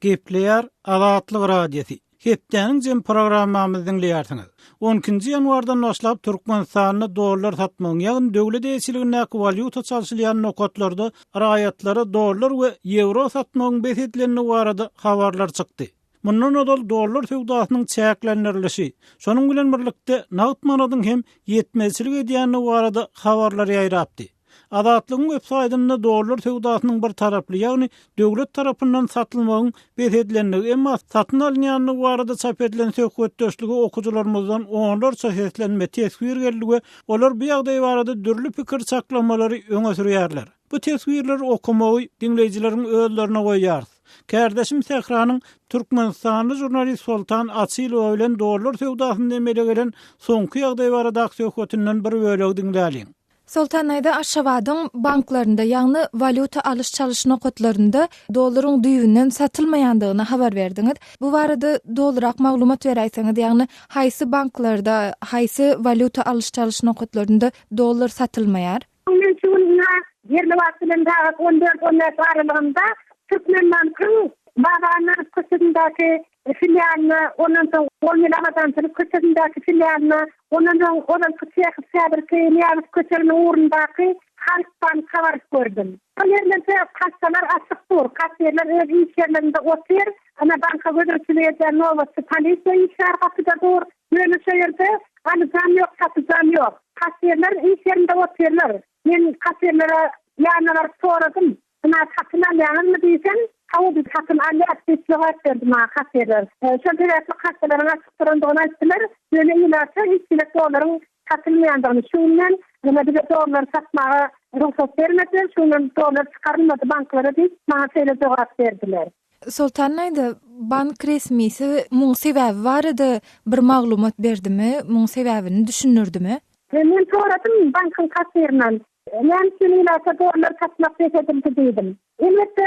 Gepleýär Azatlyk Radiosy. Hepdäniň jemi programmamyzy diňleýärsiňiz. On ikinji ýanwardan başlap Türkmenistanda dollar satmagyň, ýagny döwlet eýeçiligindäki walýuta çalşylýan nokatlarda raýatlara dollar we ýewro satmagyň bes edilendigi barada habarlar çykdy. Mundan ozal dollar söwdasynyň çäklendirilişi, şonuň bilen birlikde nagt manadyň hem ýetmezçilik edýändigi barada habarlar ýaýrapdy. Azatlygyň websaýtynda dollar söwdasynyň bir taraply, ýagny döwlet tarapyndan satylmagyň bes edilendigi, emma satyn alynýandygy barada çap edilen söhbetdeşlige okyjylarymyzdan onlarça seslenme, teswir geldi we olar bu ýagdaý barada dürli pikir çaklamalary öňe sürýärler. Bu teswirleri okamagy diňleýjileriň özlerine goýýarys. Kärdeşim Sähranyň türkmenistanly žurnalist Soltan Açylowa bilen dollar söwdasynda emele gelen soňky ýagdaý baradaky söhbetinden bir bölegi diňläliň. Soltan daýza Aşgabadyň banklarynda, ýagny walýuta alyş-çalyş nokatlarynda dollaryň düýbünden satylmaýandygyny habar berdiňiz. Bu barada dolurak maglumat beräýseňiz, ýagny haýsy banklarda, haýsy walýuta alyş-çalyş nokatlarynda dollar satylmaýar? Ine, şu gün ýa ýerli wagt bilen sagat on dört-on bäş aralygynda Türkmenbankyň Babanarif köçesindäki filialyna, ondan soň on ýyl abadançylyk köçesindäki filialyna, ondan soň ozalky Çehow, häzirki Nyýazow köçeginiň ugrundaky Halkbanka baryp gördüm. Şol ýerlerde kassalar açyk dur, kassirler öz iş ýerlerinde otyr, ana, banka gözegçilik edýän nobatçy polisiýa işgär gapyda dur. Ýöne şu ýerde alyjam ýok, satyjam ýok. Kassirler iş ýerinde otyrlar. Men kassirlere ýanyna baryp soradym, Ynha, satyn alýaňyzmy diýsem, Hawa, biz satyn alýas diýip jogap berdi maňa kassirler. Şol sebäpli kassalaryň açyk durandygyny aýtdylar, ýöne ilata hiç gezek dollaryň satylmaýandygyny, şu günden ýöne bize dollary satmaga rugsat bermediler, şu günden dollar çykarylmady banklara diýip, maňa şeýle jogap berdiler. Soltan daýza, bank resmisi muň sebäbi barada bir maglumat berdimi, muň sebäbini düşündirdimi? Men soradym bankyň kassirinden, näme üçin ilata dollar satmak bes edildi diýdim. Elbetde,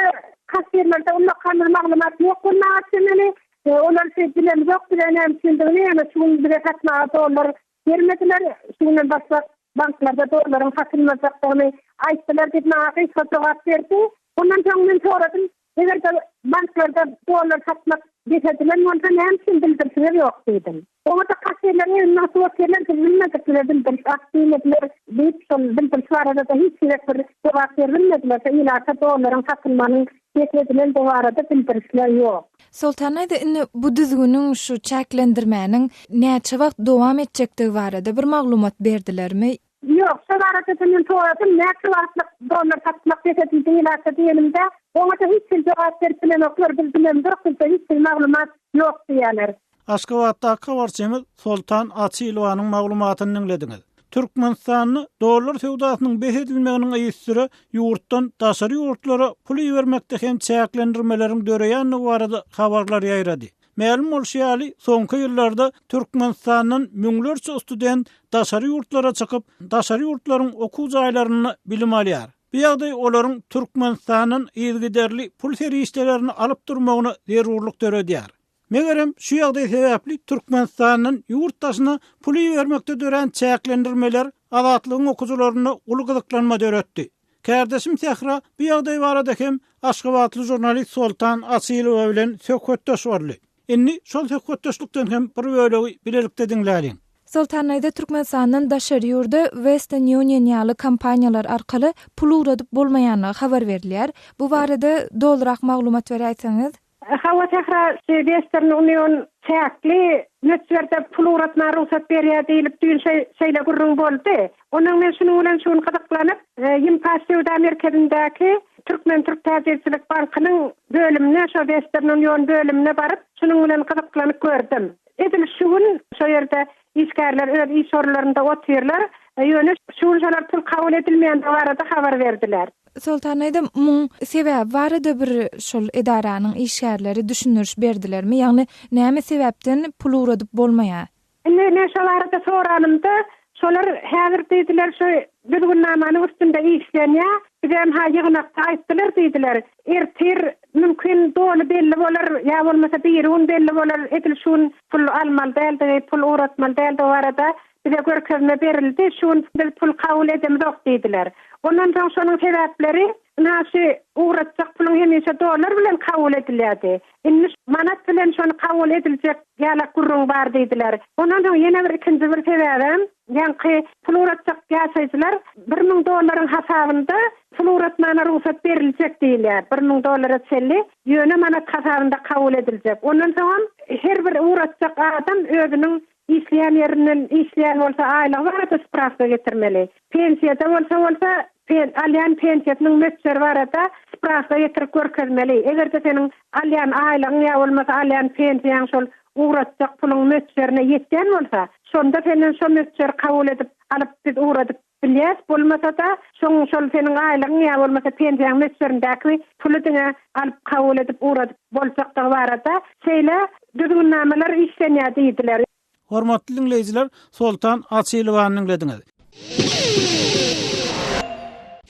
kassirlerde ullakamyl maglumat ýok bolmaga çemeli, olar şeý bilemizok, bize näme üçindigini, ýöne şu gün bize satmaga dollar Fermerçiler şu günden başlap banklarda dollaryň satynlanjakdygyny aýtdylar diýip, maňa gysga jogap berdi. Ondan soň men soradym, Eger-de banklarda dollar satmak beshedilen bolsa, näme üçin bildirişiňiz ýok? diýdim. Oňa-da kassirleriň öňüne atyp oturýarlar, biz bilmediklige bildiriş at diýmediler diýip, şol bildiriş barada-da hiç gezek bir jogap berilmediler. Şu ilata dollaryň satylmagynyň Gepleşilen bu barada bildirişler ýok. Soltanow indi bu düzgüniň, şu çäklendirmäniň näçe wagt dowam etjekdigi barada bir maglumat berdilermi? Ýok, şo barada-da men soradym, näçe wagtlyk dollar satmak bes edildi ilata diýenimde, oňa-da hiç kim jogap berip bilenoklar, biz bilemzok, bizde hiç hili maglumat ýok diýýärler. Aşgabatdaky habarçymyz Soltan Açylowanyň maglumatyny diňlediňiz. Türkmenistanda dollar söwdasynyň bes edilmeginiň yzysüre ýurtdan daşary ýurtlara pul ibermekde hem çäklendirmeleriň döreýändigi barada habarlar ýaýrady. Mälim bolşy ýaly, soňky ýyllarda Türkmenistandan müňlerçe student daşary ýurtlara çykyp, daşary ýurtlaryň okuw jaýlarynda bilim alýar. Bu ýagdaý olaryň Türkmenistandan yzygiderli pul serişdelerini alyp durmagyna zerurlyk döredýär. Megerem, şu ýagdaý sebäpli Türkmenistandan ýurt daşyna pul ibermekde dörän çäklendirmeler Azatlygyň okyjylarynda uly gyzyklanma döretdi. Kärdeşim Sähra bu ýagdaý barada hem aşgabatly žurnalist Soltan Asylowa bilen söhbetdeş boldy. Indi şol söhbetdeşlikden hem bir bölegi bilelikde diňläliň. Soltan daýza Türkmenistandan daşary ýurda Western Union ýaly kompaniýalar arkaly pul ugradyp bolmaýandygy habar berilýär. Bu barada dolurak maglumat beräýseňiz? Hawa Sähra şu Western Union çäkli möçberde pul ugratmaga rugsat berýär diýlip düýn şeýle gürrüň boldy. Ondan men şunuň bilen şu gün gyzyklanyp Ýimpaş söwda merkezindäki Türkmen türk täjirçilik bankynyň bölümine şo Western Union bölümine baryp şunuň bilen gyzyklanyp gördüm. Edil şu gün şo ýerde Işgärler öz iş orunlarynda otyrlar, ýöne şu gün şolar pul kabul edilmeýändigi barada habar berdiler. Soltan aýdym, muň sebäbi barada bir şol edaranyň işgärleri düşündiriş berdilermi? Ýagny näme sebäpden pul ugradyp bolmaýar? Indi men şo barada soranymda, şolar häzir diýdiler, şu düzgünnamanyň üstünde işlenýär, bizem-ha ýygnakda aýtdylar diýdiler. Ertir, mümkin, doly belli bolar, ýa bolmasa biri gün belli bolar, edil şu gün pul almaly däldigi, pul ugratmaly däldigi barada bize görkezme berildi, şu gün biz pul kabul edemizok diýdiler. Ondan soň şonuň sebäpleri, ynha şu ugratjak puluň hemişe dollar bilen kabul edilýärdi. Ylmyş manat bilen şony kabul ediljek ýalak gürrüň bar diýdiler. Ondan soň ýene bir ikinji bir sebäbem, ýaňky pul ugratjak ýaşaýjylar bir müň dollaryň hasabynda pul ugratmagyna rugsat beriljek diýilýär, bir müň dollara çenli, ýöne manat hasabynda kabul ediljek. Ondan soňam her bir ugratjak adam özüniň Işleýän ýerinden işleýän bolsa aýlygy barada sprawka getirmeli. Pensiýada bolsa bolsa pen alýan pensiýasynyň möçberi barada sprawka getirip görkezmeli. Eger-de seniň alýan aýlygyň ýa bolmasa alýan pensiýaň şol ugratjak puluň möçberine ýetýän bolsa, şonda senden şo möçberi kabul edip alyp biz ugradyp Bilýäs, bolmasa-da, şoň şol seniň aýlygyň ýa bolmasa pensiýaň möçberindäki puly diňe alyp kabul edip ugradyp boljakdygy barada şeýle düzgünnamalar işlenýär diýdiler. Hormatly diňleýjiler, Soltan Açylowany diňlediňiz.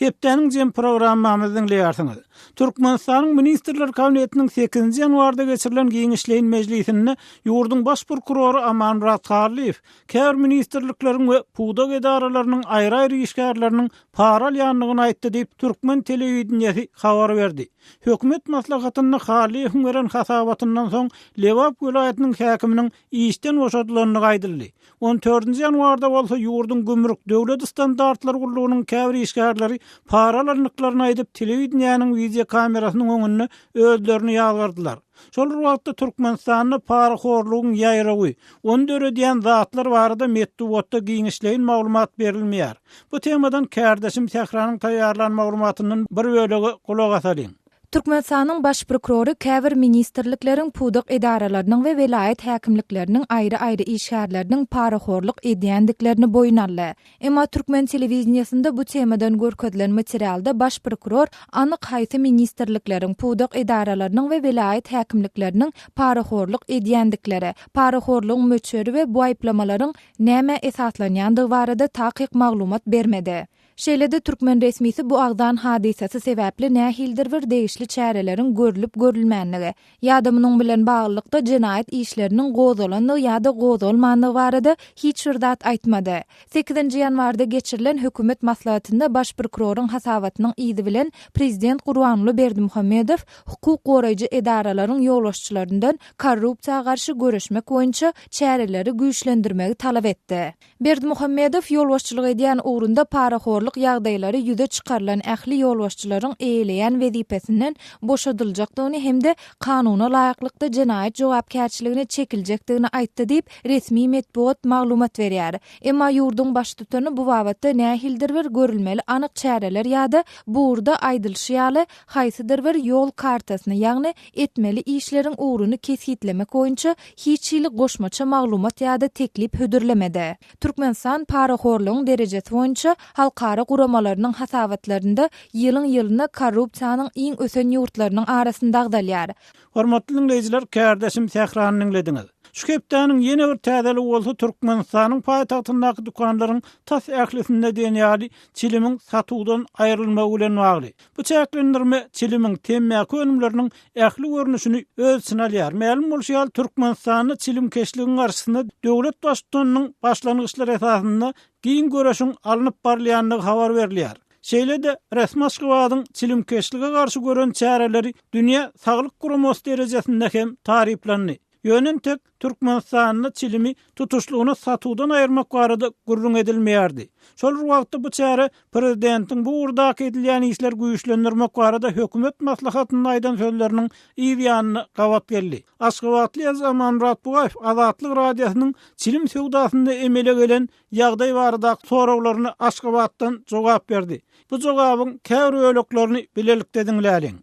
Hepdäniň jem programmamyzy diňleýärsiňiz. Türkmenistanyň Ministrler Kabinetiniň sekizinji ýanwarda geçirilen giňişleýin mejlisinde ýurduň Baş prokurory Amanmyrat Garlyýew käbir ministrlikleriň we pudak edaralarynyň aýry-aýry işgärleriniň para alýandygyny aýtdy diýip, türkmen telewideniýesi habar berdi. Hökümet maslahatynda Hallyýewiň beren hasabatyndan soň Lebap welaýatynyň häkiminiň işden boşadylandygy aýdyldy. On dördünji ýanwarda bolsa ýurduň gümrük döwlet standartlary gullugynyň käbir işgärleri para alandyklaryny aýdyp, telewideniýäniň wideokamerasynyň öňünde özlerini ýazgardylar. Şol bir wagtda Türkmenistanda parahorlugyň ýaýrawy, ony döredýän zatlar barada metbugatda giňişleýin maglumat berilmeýär. Bu temadan kärdeşim Sähranyň taýýarlan maglumatyndan bir bölege gulak asalyň. Türkmenistanyň Baş prokurory käbir ministrlikleriň, pudak edaralarynyň we welaýat häkimlikleriniň aýry-aýry işgärleriniň parahorluk edýändiklerini boýun aldy. Emma türkmen telewideniýesinde bu temadan görkezilen materialda baş prokuror anyk haýsy ministrlikleriň, pudak edaralarynyň we welaýat häkimlikleriniň parahorluk edýändikleri, parahorlugyň möçberi we bu aýyplamalaryň nämä esaslanýandygy barada takyk maglumat bermedi. Şeýle-de türkmen resmisi bu agzan hadysasy sebäpli nähildir bir degişli çäreleriň görlüp-görülmändigi, ýa-da munuň bilen baglylykda jenaýat işleriniň gozalandygy ýa-da gozgalmandygy barada hiç bir zat aýtmady. Sekizinji ýanwarda geçirilen hökümet maslahatynda baş prokuroryň hasabatynyň yzy bilen prezident Gurbanguly Berdimuhamedow hukuk goraýjy edaralaryň ýolbaşçylaryndan korrupsiýa garşy göreşmek boýunça çäreleri güýçlendirmegi talap etdi. Berdimuhamedow ýolbaşçylyk edýän ugrunda parahorluk ýagdaýlary ýüze çykarylan ähli ýolbaşçylaryň eýeleýän wezipesinden boşadyljakdygyny hem-de kanuna laýyklykda jenaýat jogapkärçiligine çekiljekdigini aýtdy diýip, resmi metbugat maglumat berýär. Emma ýurduň baştutany bu babatda nähilidir bir görülmeli anyk çäreler ýa-da bu ugurda aýdylyşy ýaly, haýsydyr bir ýol kartasyny, ýagny etmeli işleriň ugruny kesgitlemek boýunça hiç hili goşmaça maglumat ýa-da teklip hödürlemedi. Türkmenistan parahorlugyň derejesi boýunça halkara guramalarynyň hasabatlarynda ýylyň-ýylyna korrupsiýanyň iň ösen ýurtlarynyň arasynda agzalýar. Hormatly diňleýjiler, kärdeşim Sährany diňlediňiz. Şu hepdäniň ýene bir täzeligi bolsa Türkmenistanyň paýtagtyndaky dükanlaryň tas ählisinde diýen ýaly çilimiň satuwdan aýrylmagy bilen bagly. Bu çäklendirme çilimiň temmäki önümleriniň ähli görnüşini öz içine alýar. Mälim bolşy ýaly, Türkmenistanda çilimkeşligiň garşysyna döwlet Baştutanynyň başlangyçlary esasynda giň göreşiň alnyp barylýandygy habar berilýär. Şeýle-de, resmi Aşgabadyň çilimkeşlige garşy gören çäreleri Dünýä saglyk guramasy derejesinde hem taryplandy. Ýöne entek Türkmenistanda çilimi tutuşlygyna satuwdan aýyrmak barada gürrüň edilmeýärdi. Şol bir wagtda bu çäre prezidentiň bu ugurdaky edilýän işleri güýçlendirmek barada hökümet maslahatynda aýdan sözleriniň yz ýanyna gabat geldi. Aşgabatly Aziz Amanmyrat Bugaýew Azatlyk Radiosynyň çilim söwdasynda emele gelen ýagdaý baradaky soraglaryna Aşgabatdan jogap berdi. Bu jogabyň käbir böleklerini bilelikde diňläliň.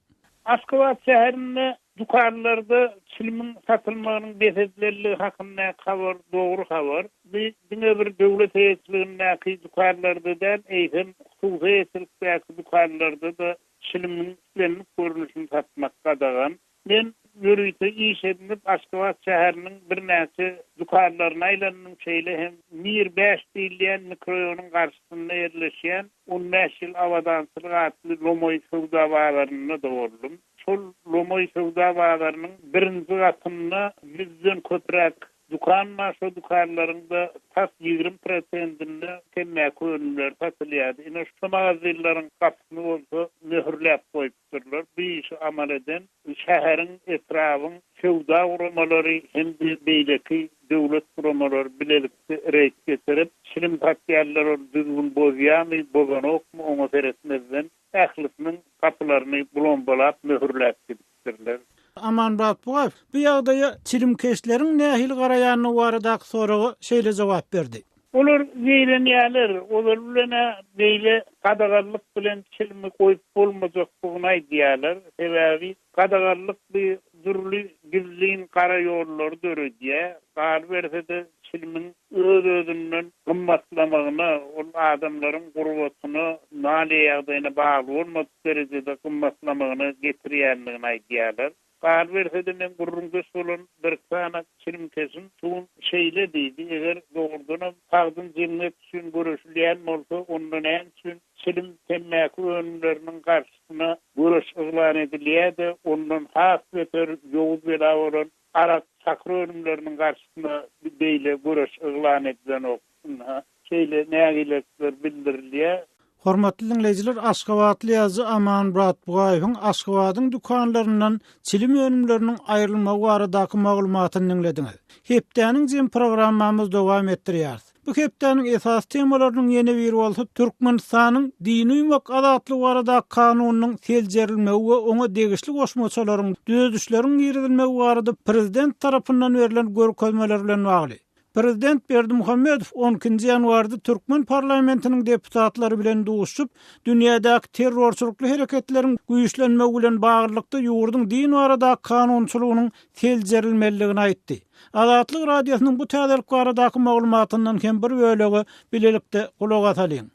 Aşgabat şäherinde dükanlarda çilimiň satylmagynyň bes edilenligi hakyndaky habar dogry habar. Bu diňe bir döwlet eýeçiligindäki dükanlarda däl, eýsem, hususy eýeçilikdäki dükanlarda-da çilimiň islendik görnüşini satmak gadagan. Men ýörite iş edinip, Aşgabat şäheriniň birnäçe dükanlaryna aýlandym, şeýle hem Mir bäş diýilýän mikroýonuň garşysynda ýerleşýän On bäş ýyl Abadançylyk atly lomaý söwda bazarynda doldum. Şol lomaý söwda bazarynyň birinji gatynda ýüzden köpräk dükan bar. Şo dükanlaryňda tas ýigrimi prosentinde temmäki önümleri satylýardy. Ine, şo magazinleriň gapysyny bolsa möhürläp goýupdym. ýokdurlar. Bu işi amal eden şäheriň, etrabyň söwda guramalary hem-de beýleki döwlet guramalary bilelikde reýd geçirip, çilim satýarlar, ol düzgün bozýarmy, bozanokmy, oňa seretmezden, ählisiniň gapylaryny blombalap, möhürläp gidipdirler. Aman Bakbugaýew bu ýagdaýa çilimkeşleriň nähili garaýandygy baradaky soraga şeýle jogap berdi. Olar zeýrenýärler, olar bilen-ä beýle gadaganlyk bilen çilimi goýup bolmajakdygyny aýdýarlar, sebäbi gadaganlyk bi dürli gizlin gara ýollary döredýär, galyberse-de çilimiň öz-özünden gymmatlamagyna, ol adamlaryň gurbatyna, maliýe ýagdaýyna bagly bolmadyk derejede gymmatlamagyna getirýändigini aýdýarlar. Galyberse-de, men gürrüňdeş bolan birsanak çilimkeşim Tun şeýle diýdi, Eger dogrudanam tagtyn jemgyýet üçin göreşilýän bolsa, onda näme üçin çilim, temmäki önümleriniň garşysyna göreş yglan edilýär-de, ondan has beter ýowuz bela bolan arak, çakyr önümleriniň garşysyna beýle göreş yglan edilenok? Ynha, şeýle nägilelikler bildirilýär. Hormatly diňleýjiler, aşgabatly ýazyjy Aman Buratbugaýewiň Aşgabadyň dükanlaryndan çilim önümleriniň aýrylmagy baradaky maglumatyny diňlediňiz. Hepdäniň jemi programmamyzy dowam etdirýäris. Bu hepdäniň esasy temalarynyň ýene biri bolsa Türkmenistanyň Dini uýmak azatlygy baradaky kanunynyň seljerilmegi we oňa degişli goşmaçalaryň, düzedişleriň girizilmegi barada prezident tarapyndan berlen görkezmeler bilen bagly. Prezident Berdimuhamedow on ikinji ýanwarda türkmen parlamentiniň deputatlary bilen duşuşyp, dünýädäki terrorçylykly hereketleriň güýçlenmegi bilen baglylykda ýurduň din baradaky kanunçylygynyň seljerilmelidigini aýtdy. Azatlyk Radiosynyň bu täzelik baradaky maglumatyndan hem bir bölege bilelikde gulak asalyň.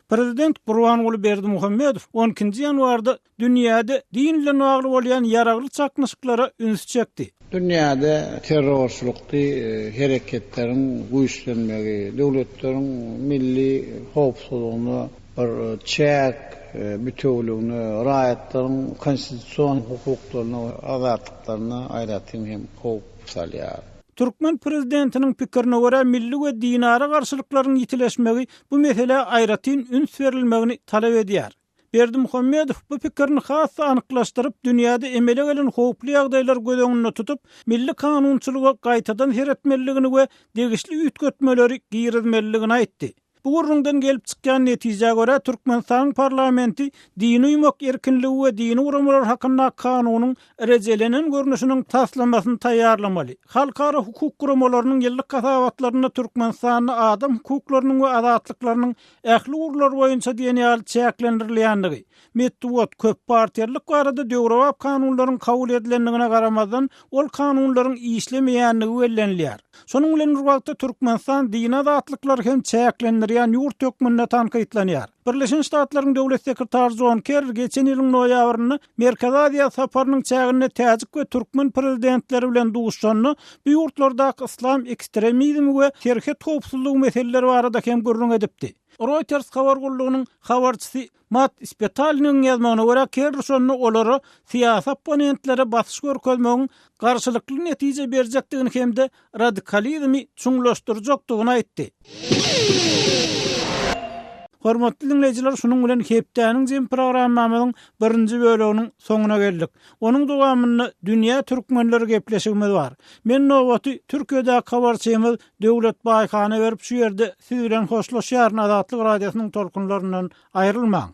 Prezident Gurbanguly Berdimuhamedow on ikinji ýanwarda Dünýäde din bilen bagly bolýan ýaragly çaknyşyklara üns çekdi. Dünýäde terrorçylykly hereketleriň güýçlenmegi, döwletleriň milli howpsuzlygyna bir çäk, bitewüligine, raýatlaryň konstitusion hukuklaryna we azatlyklaryna aýratyn hem howp salýar. Türkmen prezidentiniň pikirine görä, milli we dinara garşylyklaryň ýitileşmegi bu meselä aýratyn üns berilmegini talap edýär. Berdimuhamedow bu pikirini has-da anyklaşdyryp, dünýäde emele gelen howply ýagdaýlary göz öňünde tutup, milli kanunçylyga gaýtadan seretmelidigini we degişli üýtgetmeleri girizmelidigini aýtdy. Bu gürrüňden gelip çykýan netijä görä, Türkmenistanyň parlamenti dini uýmak erkinligi we dini guramalar hakynda kanunyň rejelenen görnüşiniň taslamasyny taýýarlamaly. Halkara hukuk guramalarynyň ýyllyk hasabatlarynda Türkmenistanda adam hukuklarynyň we azatlyklarynyň ähli ugurlar boýunça diýen ýaly çäklendirilýändigi, metbugat, köppartiýalylyk barada döwrebap kanunlaryň kabul edilendigine garamazdan, ol kanunlaryň işlemeýändigi bellenilýär. Şonuň bilen bir wagtda, Türkmenistan dini azatlyklary hem çäklendirýän ýurt hökmünde tankytlanýar. Birleşen Ştatlaryň Döwlet sekretary Jon Kerri geçen ýylyň noýabrynda Merkezi Aziýa saparynyň çäginde täjik we türkmen prezidentleri bilen duşanda bu ýurtlardaky yslam ekstremizmi we serhet howpsuzlygy meseleleri barada hem gürrüň edipdi. Reuters habar gullugynyň habarçysy Matt Spetalnyň ýazmagyna görä, Kerri şonda olara syýasy opponentlere basyş görkezmegiň garşylykly netije berjekdigini hem-de radikalizmi çuňlaşdyrjakdygyny aýtdy. Hormatly diňleýjiler, şunuň bilen hepdäniň jemi programmamyzyň birinji böleginiň soňuna geldik. Onuň dowamynda Dünýä Türkmenleri gepleşigimiz bar. Men nobaty Türkiýedäki habarçymyz Döwlet Baýhana berip şu ýerde siz bilen hoşlaşýaryn Azatlyk Radiosynyň tolkunlaryndan aýrylmaň.